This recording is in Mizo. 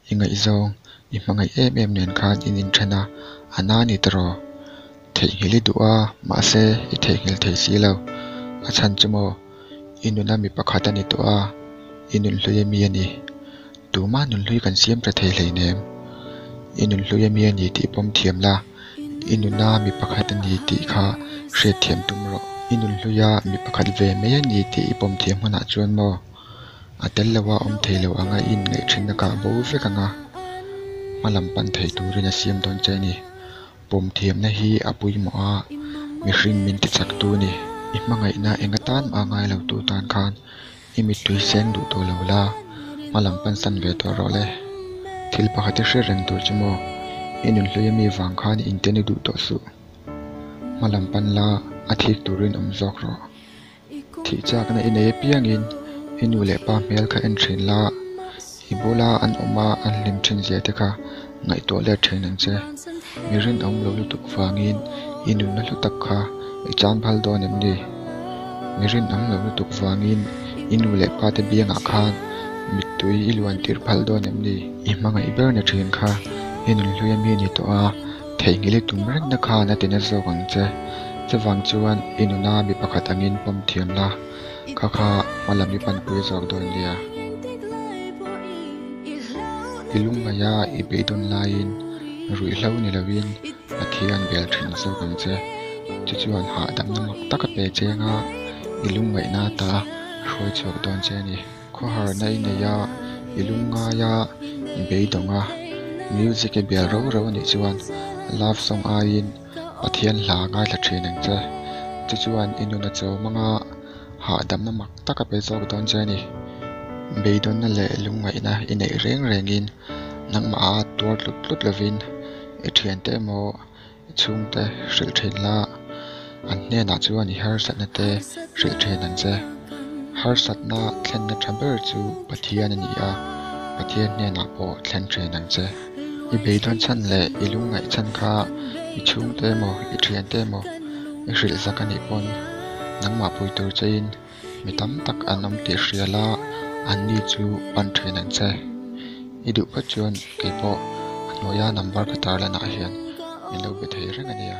I ngaihzawng i hmangaih em em nen khan in inthen a, a na ni ta raw? Theihnghilh i duh a, mahse i theihnghilh thei si lo, a chhan chu maw? I nuna mi pakhat a ni tawh a, i nunhlui a mi a ni. Tumah nunhlui kan siam ta thei hleinem. I nunhlui a mi a ni tih pawm thiam la, i nuna mi pakhat a ni tih kha hriat thiam tum rawh. I nunhluia mi pakhat ve mai a ni tih i pawm thiam hmunah chuan maw a tel lo a, awm thei lo ang a, i inngaih thinna kah bo vek ang a, hma lam pan thei turin a siam dawn che a ni. pawm thiamna hi a pawimawh a, mihring min ti chak tu ni, i hmangaihna enga tan a ngai lo tu tan khan i mittui seng duh tawh lo la, hmalam pansan ve tawh rawh le, thil pakhat i hre reng tur chu maw, i nun hlui a mi vang khan inte ni duh tawh suh, hmalam pan la, a thik turin awm zawk rawh. Thih chakna i nei apiangin i nu leh pa hmel kha en thin la, i bula an awma an hlim thin zia te kha ngaihtuah let thin ang che. Mi rin awm lo lutuk vangin i nunna hla tak kha i tlanbal dawn em ni? Mi rin awm lo lutuk vangin i nu leh pa te biangah khan mittui i luan tirh phalh dawn em ni? I hmangaih ber ni thin kha i nunhluia mi ni tawh a. Theih ngil i tum reng na khan a ti na zawk ang che. Chuvang chuan i nuna mi pakhat angin pawm thiam la, kha kha hma lam i panpui zawk dawn nia. I lungngai a i beih dawn laiin ruih hlo ni loin Pathian bel thin zawk ang che. Chu chuan hahdamna mak taka pe cheng a i lungngaihna ata a hruai chhuak dawn che a ni. Khawharna i nei a, i lung ngai a, i beidawng a, music i bial rau rau a nih chuan love song aiin Pathian hla a ngaithla thin ang che. Chu chuan i nun a chaw mang a, hahdamna mak tak a pe zawk dawn che a ni. Beidawnna leh lungngaihna i neih reng rengin nangmah a tuar tlut tlut lovin i thiante emaw, I chhungte hrilh thin la, an hnenah chuan i harsatna te hrilh thin an che. Harsatna thlenna tha ber chu Pathian a ni a, Pathian hnenah pawh thlen thin an che. I beidawn chhan leh i lungngaih chhan kha i chhungte emaw i thiante emaw i hrilh zak a nih pawn, nangmahpui tur cheiin, Mi tam tak an awm tih hrial a, an ni chu pan thin an che. I duh phawt chuan kei pawh a hnuaia number ka tarlan ah hian min lo be thei reng a nia.